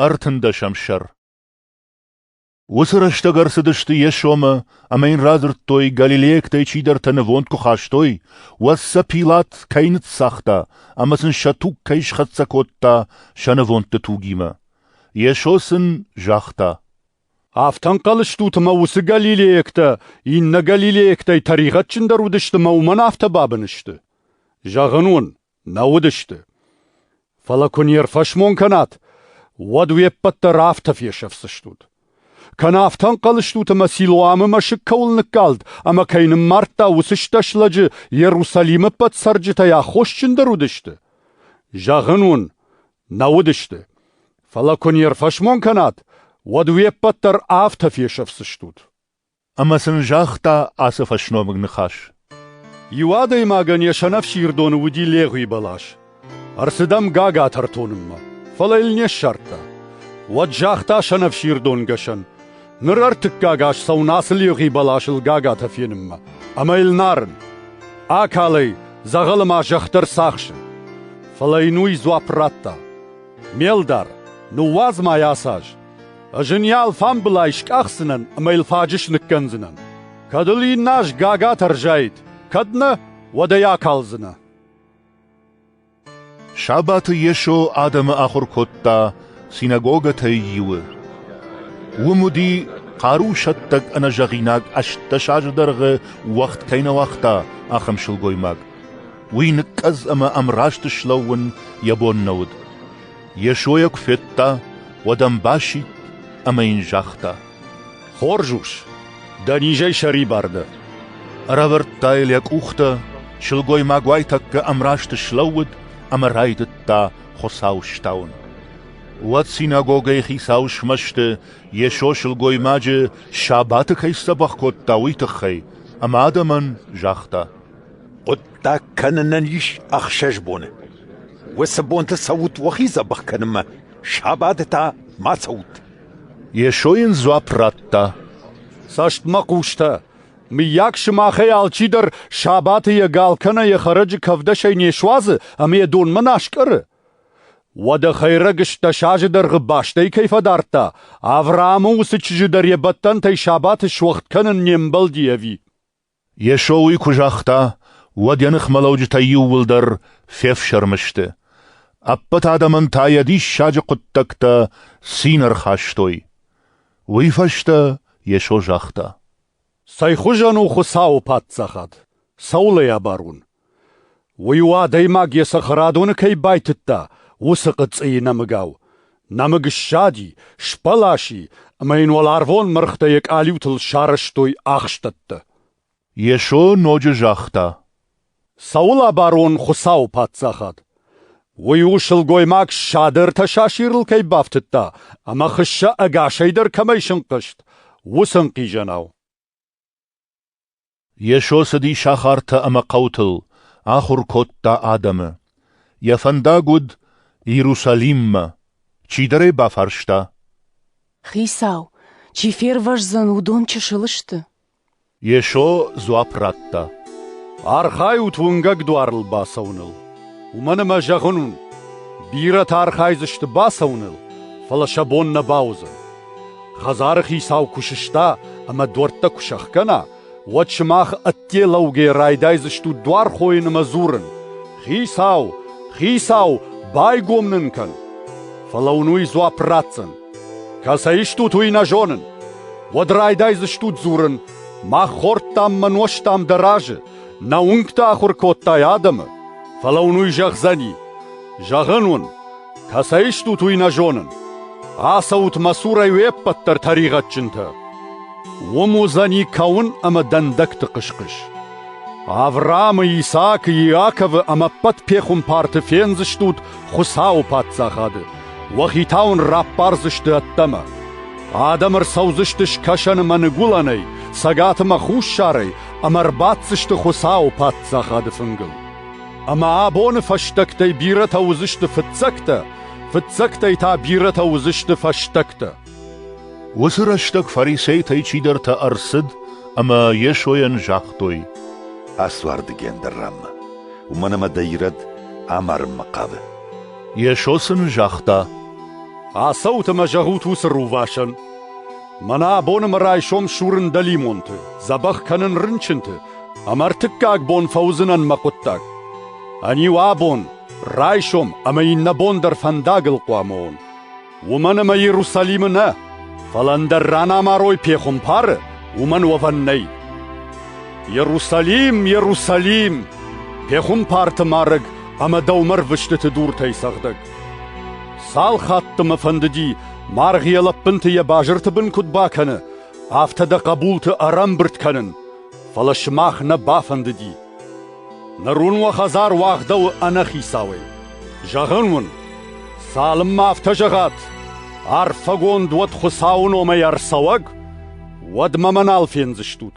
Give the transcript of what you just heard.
Ӕртындӕсӕм сӕр Уыцы рӕстӕг ӕрцыдысты йе сомы ӕмӕ йын радзырдтой, галилейӕгтӕй чидӕртӕ нывонд куы хастой, уӕд сӕ Пилат кӕй ныццагъта ӕмӕ сын сӕ туг кӕй схӕццӕ кодта сӕ нывондты тугимӕ. Йесо сын загъта: «Афтӕ ӕнхъӕлыстут, ӕмӕ уыцы галилейӕгтӕ иннӕ галилейӕгтӕй тӕригъӕдджындӕр уыдысты ӕмӕ уымӕн афтӕ бабын сты? Зӕгъын уын, Нӕ уыдысты. Фӕлӕ куы не рфӕсмон кӕнат, уӕд уе ппӕт дӕр афтӕ фесӕфдзыстут. Кӕнӕ афтӕ ӕнхъӕл стут, ӕмӕ Силоамы мӕсыг кӕуыл ныккалд ӕмӕ кӕй ныммардта, уыцы стӕс лӕджы Йерусалимы ӕппӕт цӕрджытӕй аххосджындӕр уыдысты? Зӕгъын уын, нӕ уыдысты. Фӕлӕ куы не рфӕсмон кӕнат, уӕд уе ппӕт дӕр афтӕ фесӕфдзыстут. ӕмӕ сын загъта ацы фӕсномыг ныхас. Иу адӕймагӕн йӕ сӕнӕфсирдоны уыди легъуи бӕлас. Ӕрцыдӕм гагатӕ ртонынмӕ, фӕлӕ йыл не ссардта. Уӕд загъта сӕнӕфсирдонгӕсӕн, ныр ӕртыккаг аз цӕуын ацы легъи бӕласыл гагатӕ фенынмӕ, ӕмӕ йыл нарын. Акалӕй дзӕгъӕлы ма зӕхх дӕр цахсы. Фӕлӕ йын уый дзуапп радта: Ме лдар, ныууадз ма йӕ ацы аз. Ӕз ын йӕ алфамбылай скъахдзынӕн ӕмӕ йыл фаджыс ныккӕндзынӕн. Кӕд ыл иннӕ аз гага тӕрзаид, кӕд нӕ, уӕд ӕй акалдзынӕ. Сабаты Йесо адӕмы ахуыр кодта синагогӕтӕй иуы. Уым уыди хъарусӕттӕг ӕнӕзӕгъинаг ӕстдӕс азы дӕргъы уӕгъд кӕй нӕ уагъта, ахӕм сылгоймаг. Уый ныккъӕдз ӕмӕ ӕмраст слӕууын йӕ бон нӕ уыд. Йесойӕ куы федта, уӕд ӕм басидт ӕмӕ йын загъта: «Хорз ус, дӕ низӕй сӕрибар дӕ!» Ӕрӕвӕрдта йыл йӕ къухтӕ, сылгоймаг уайтӕккӕ ӕмрасты слӕууыд ӕмӕ райдыдта Хуыцау стауын. Уӕд синагогӕйы хицауы смӕсты Йесо сылгоймаджы сабаты кӕй сдзӕбӕх кодта, уый тыххӕй, ӕмӕ адӕмӕн загъта: Хъуыддаг кӕнынӕн ис ӕхсӕз боны. Уыцы бонты цӕут уӕхи дзӕбӕх кӕнынмӕ, сабаты та ма цӕут. Йесо йын дзуапп радта. «Цӕст мӕ хъустӕ, мыййаг сымахӕй алчидӕр сабаты йӕ гал кӕнӕ йӕ хӕрӕджы кӕвдӕсӕй не суадзы ӕмӕ йӕ донмӕ нӕ аскъӕры? Уӕдӕ хӕйрӕг ыстдӕс азы дӕргъы бӕстӕй кӕй фӕдардта, Авраамы уыцы чызджы дӕр йӕ бӕттӕнтӕй сабаты суӕгъд кӕнын не мбӕлди ӕви?» Йесо уый куы загъта, уӕд йӕ ныхмӕлӕуджытӕ иууылдӕр фефсӕрмы сты. Ӕппӕт адӕмӕн та йӕ диссаджы хъуыддӕгтӕ цин ӕрхастой. Уый фӕстӕ Йесо загъта. «Цӕйхуызӕн у Хуыцауы Паддзахад! Цӕуыл ӕй абарон? Уый у, адӕймаг йӕ цӕхӕрадоны кӕй байтыдта, уыцы хъыцъыйы нӕмыгау. Нӕмыг ссади, сбӕласы, ӕмӕ йын уӕларвон мыргътӕ йӕ къалиутыл сарӕзтой ахстӕттӕ. Йесо ноджы загъта: «Цӕуыл абарон Хуыцауы Паддзахад? Уый у, сылгоймаг ссады ӕртӕ сасирыл кӕй бафтыдта ӕмӕ хыссӕ ӕгасӕй дӕр кӕмӕй сынхъызт, уыцы ӕнхъизӕнау». Йесо цыди сахартӕ ӕмӕ хъӕутыл, ахуыр кодта адӕмы. Йӕ фӕндаг уыд Иерусалиммӕ. Чидӕр ӕй бафарста. «Хицау, чи фервӕздзӕн, уыдон чысыл сты?» Йесо дзуапп радта. «Архайут уынгӕг дуарыл бацӕуыныл. Уымӕн ӕмӕ зӕгъын уын, бирӕтӕ архайдзысты бацӕуыныл, фӕлӕ сӕ бон нӕ бауыдзӕн. Хӕдзары хицау куы сыста ӕмӕ дуӕрттӕ куы сӕхгӕна, уӕд сымах ӕдде лӕугӕ райдайдзыстут дуар хойын ӕмӕ дзурын: «Хицау! Хицау! байгом нын кӕн!» Фӕлӕ уын уый дзуапп ратдзӕн: «Кӕцӕй стут, уый нӕ зонын!» Уӕд райдайдзыстут дзурын: «Мах хордтам мӕ нозтам дӕ разы, нӕ уынгты ахуыр кодтай адӕмы!» Фӕлӕ уын уый зӕгъдзӕни: «Зӕгъын уын, Кӕцӕй стут, уый нӕ зонын. Ацӕут мӕ цурӕй уе ппӕт дӕр тӕригъӕдджынтӕ. Уым уыдзӕни кӕуын ӕмӕ дӕндӕгты хъысхъыс. Авраамы, Исаакы, Иаковы ӕмӕ ӕппӕт пехуымпарты фендзыстут Хуыцауы паддзахады. Уӕхи та уын раппардзысты ӕддӕмӕ. Адӕм ӕрцӕудзысты скӕсӕн ӕмӕ ныгуылӕнӕй, цӕгат ӕмӕ хуссарӕй ӕмӕ ӕрбаддзысты Хуыцауы паддзахады фынгыл. Ӕмӕ абоны фӕстӕгтӕй бирӕтӕ уыдзысты фыццӕгтӕ, фыццӕгтӕй та бирӕтӕ уыдзысты фӕстӕгтӕ. Уыцы рӕстӕг фарисейтӕй чидӕртӕ ӕрцыд ӕмӕ Йесойӕн загътой: «Ацуарды гендӕр раммӕ, уымӕн ӕмӕ дӕ ирӕд амарынмӕ хъавы». Йесо сын загъта: «Ацӕут ӕмӕ зӕгъут уыцы рувасӕн: Мӕнӕ абоны мӕ райсом сурын дӕлимонты, дзӕбӕх кӕнын рынчынты, ӕмӕ ӕртыккаг бон фӕуыдзынӕн мӕ хъуыддаг. Ӕниу абон, райсом ӕмӕ иннӕ бон дӕр фӕндагыл хъуамӕ уон. Уымӕн ӕмӕ Иерусалимы нӕ, фӕлӕ ӕндӕр ранамарой пехуымпары уымӕн уӕвӕн нӕй. Иерусалим, Иерусалим! Пехуымпарты марӕг ӕмӕ дӕумӕ рвыстыты дуртӕй цӕгъдӕг! Цал хатты мӕ фӕндыди, маргъ йӕ лӕппынты йӕ базырты бын куыд бакӕны, афтӕ дӕ хъӕбулты ӕрӕмбырд кӕнын, фӕлӕ сымах нӕ бафӕндыди. Ныр уын уӕ хӕдзар уагъдӕуы ӕнӕхицауӕй. Зӕгъын уын, цалынмӕ афтӕ зӕгъат, арфӕгонд уӕд Хуыцауы номӕй ӕрцӕуӕг, уӕдмӕ мӕ нал фендзыстут.